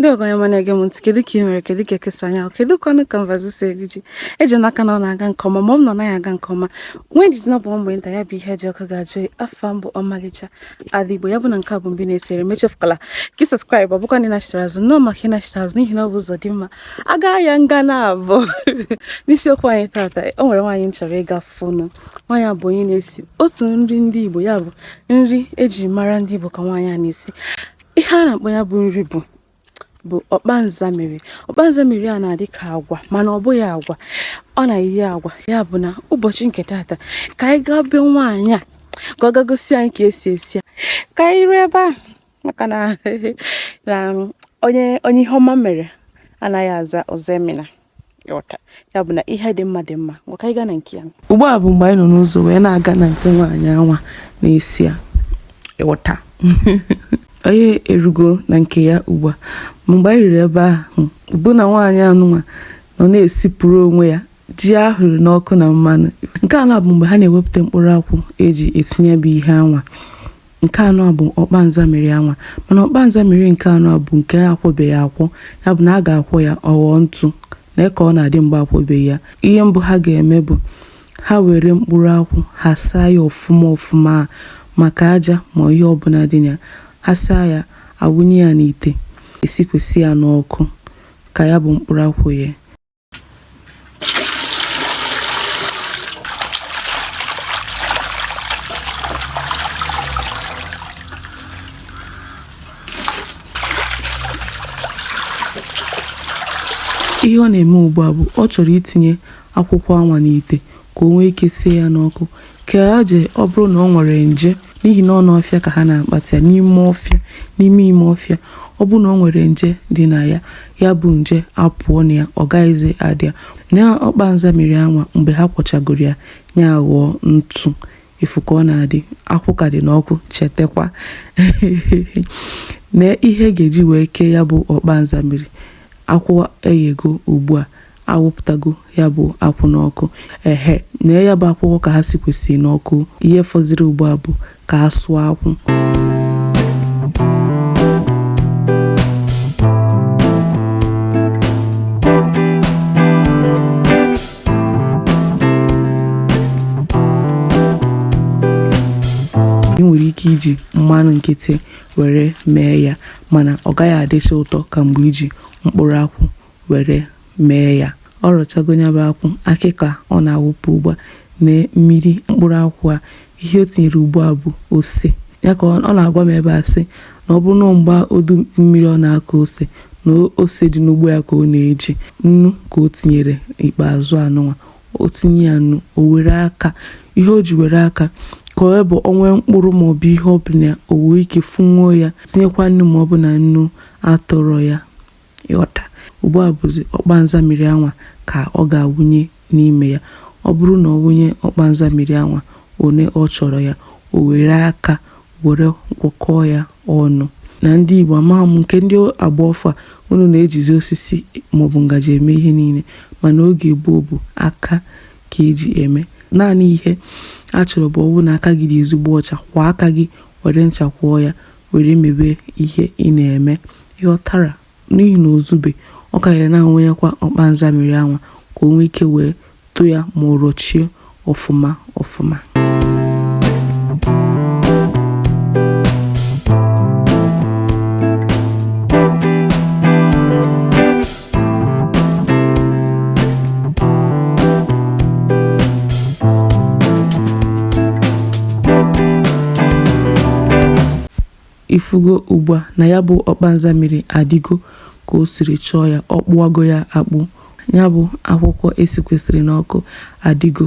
ndeewo onye ọma na-ege m ntị kedu ka ị mere kedu ka eke si anya kedu ka ọnụ kanvas si eri ji eji m n'aka na ọ na-aga nke ọma ma ọ bụ na ọ naghị aga nke ọma nwee ndidi na ọ bụ mgbe nta ya bụ ihe ji ọkụ ga-ajụ afa m bụ ọmalịcha ala igbo ya bụ na nke a bụ mbụ ị na-esere m echefukwala ka ị subscribe ọ bụkwa na ị nachitara azụ nnọọ maka ịnachite azụ n'ihi na ọ bụ ụzọ dị mma a gaa ya nga naabụ n'isiokwu anyị tata o nwere nwaanyị m chọrọ ịga fụ nwaanyị a bụ onye na-esi otu nri ndị Igbo ya bụ nri eji mara ndị Igbo ka nwaanyị a na-esi ihe a na-akpọ ya bụ nri bụ bụ ọkpa nzamiri ọkpa nzamiri a na-adị ka agwa mana ọ bụghị agwa ọ na-eyi agwa ya bụ na ụbọchị nke tata ka anyị gaa be nwaanyị a ka ọ ga gosi anyị ka e si esi ya ka anyị ruo ebe ahụ maka na na onye onye ihe ọma mere anaghị aza ọzọemena ịghọta ya bụ na ihe dị mma dị mma ngwa ka anyị gaa na nke ya ugbu a bụ mgbe anyị nọ n'ụzọ wee na-aga na nke nwaanyị anwa na-esi ya ịghọta anyị erugo na nke ya ugbu a mgbe anyị ruru ebe ahụ bụ na nwaanyị anụnwa nọ na-esipụrụ onwe ya ji a hụrụ n'ọkụ na mmanụ nke anwa bụ mgbe ha na-ewepụta mkpụrụ akwụ eji esi ya bụ ihe anwa nke anụwa bụ ọkpa nzamiri anwa mana ọkpa nzamiri nke anụwa bụ nke a kwọbeghị akwọ ya bụ na a ga-akwọ ya ọ ghọọ ntụ nee ka ọ na-adị mgbe a kwọbeghị ya ihe mbụ ha ga-eme bụ ha were mkpụrụ akwụ ha saa ya ọfụma ọfụma maka aja ma ihe ọbụla dị na ya ha saa ya awụnye ya n'ite esikwesị ya n'ọkụ ka ya bụ mkpụrụ akwụ yee ihe ọ na-eme ugbu a bụ ọ chọrọ itinye akwụkwọ anwa n'ite ka o nwee ike sie ya n'ọkụ ka aje ọ bụrụ na ọ nwere nje n'ihi na ọ n'ọfịa ka ha na-akpata ya n'ime ime ọfịa ọ bụrụ na ọ nwere nje dị na ya ya bụ nje apụọ na ya ọ gaghịzi adị ya nee ọkpa nzamiri anwa mgbe ha kwọchagoro ya ya ghọọ ntụ ị fụ ka ọ na-adị akwụ ka dị n'ọkụ chetakwa na ihe a ga-eji wee kee ya bụ ọkpa nzamiri akwụ eyego ugbu a awụpụtago ya bụ akwụ n'ọkụ ehe nee ya bụ akwụkwọ ka ha sikwesị n'ọkụ ihe fọziri ugbu a bụ ka a sụọ akwụ ị nwere ike iji mmanụ nkịtị were mee ya mana ọ gaghị adịcha ụtọ ka mgbe i ji mkpụrụ akwụ were mee ya ọ rọchago ya bụ akwụ akị ka ọ na-awụpụ ugbu a na mmiri mkpụrụ akwụ a ihe o tinyere ugbu a bụ ose ya ka ọ na-agwa m ebe a sị na ọ bụrụ na mgbe udu mmiri ọ na-akụ ose na ose dị n'ugbo ya ka ọ na-eji nnu ka o tinyere ikpeazụ anụnwa o tinye ya nnu o were aka ihe o ji were aka ka ọ bụ o nwee mkpụrụ maọbụ ihe ọbụla o wee ike fụnwuo ya tinyekwa nnu ma ọ bụ na nnu atọrọ ya ị ghọta. Ugbu a bụzi ọkpa nzamiri anwa ka ọ ga-awụnye n'ime ya. Ọ bụrụ na ọ wụnye ọkpa nzamiri anwa one ọ chọrọ ya, o were aka were gwọkọọ ya ọnụ. Na ndị Igbo, amaghị m nke ndị agba ọfụụ a, unu na-ejizi osisi maọbụ ngaji eme ihe niile, mana oge gboo bụ aka ka e ji eme. Naanị ihe a chọrọ bụ ọ bụrụ na aka gị dị ezigbo ọcha, kwọọ aka gị were ncha kwọọ ya. were mebe ihe ị na-eme ị ghọtara n'ihi na o zube ọ karịrị na-awụnyekwa ọkpa nza mmiri anwa ka o nwee ike wee tụ ya ma ọ rọchie ọfụma ọfụma ị fụgo ugbu a na ya bụ ọkpa nza mmiri adịgo ka o siri chọọ ya ọ kpụwago ya akpụ ya bụ akwụkwọ e sikwesịrị n'ọkụ adịgo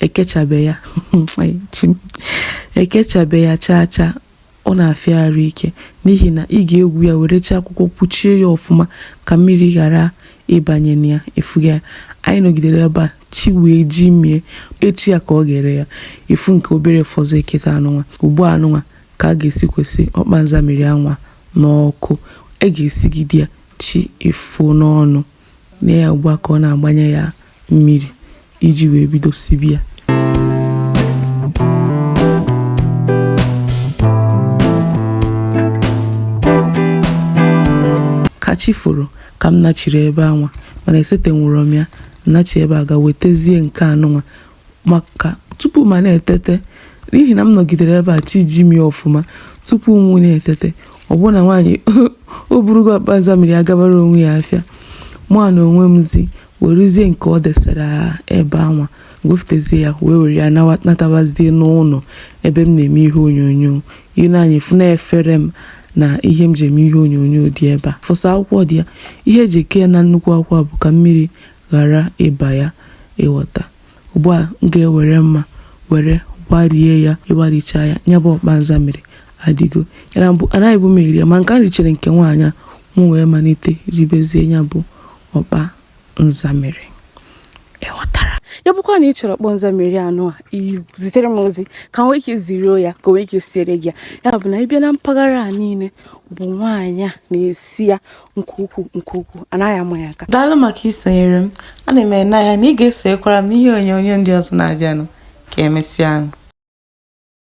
ekechabe ya ekechabe ya chaa chaa ọ na-afịa arụ ike n'ihi na ị ga-egwu ya were chi akwụkwọ kpuchie ya ọfụma ka mmiri ghara ịbanye na ya ị fụgo ya anyị nọgidere ebe a chi wee jimie echi ya ka ọ ga-ere ya ị fụ nke obere fọzọ eketa anụnwa ugbu a anụnwa ka a ga-esikwesị ọkpa nza mmiri anwa n'ọkụ a ga-esigide ya chi efo n'ọnụ na ya ugbu a ka ọ na-agbanye ya mmiri iji wee bido sibe ya ka chi foro ka m nachiri ebe anwa mana esetenwụrọ m ya m nachi ebe a ga wetezie nke anụnwa maka tupu mụ na-etete n'ihi na m nọgidere ebe a chi jimie ọfụma tupu mụ na-etete ọ bụ na nwaanyị o burugo ọkpa nza mmiri a gabara onwe ya afịa mụ na onwe m zi weruzie nke ọ desara ebe anwa wefụtazie ya wee were ya natabazie n'ụlọ ebe m na-eme ihe onyonyo i lee anya ị fụ na efere m na ihe m ji eme ihe onyonyo dị ebe a fọsa akwụkwọ dị ya ihe e ji eke ya na nnukwu akwụkwọ bụ ka mmiri ghara ịba ya ịghọta. Ugbu a, m ga-ewere mma were gbarie ya. Ị gbarichaa ya, ya bụ ọkpa nzamiri adịgo. Ya na mbụ anaghịbu m eri ya, mana ka m richere nke nwaanyị a, mụ wee malite ribezie ya bụ ọkpa nzamiri. Ị ghọtara? Ya bụkwa na ị chọrọ ọkpa nzamiri anụ a, ị zitere m ozi ka m nwee ike ziruo ya ka o nwee ike siere gị ya. Ya bụ na ị bịa na mpaghara a niile, ọ bụ nwaanyị a na-esi ya. nke ukwuu nke ukwuu anaghị ama ya aka daalụ maka isonyere m ana m ene anya na ị ga-esonyekwara m n'ihe onyonyo ndị ọzọ na-abịanụ ka emesịa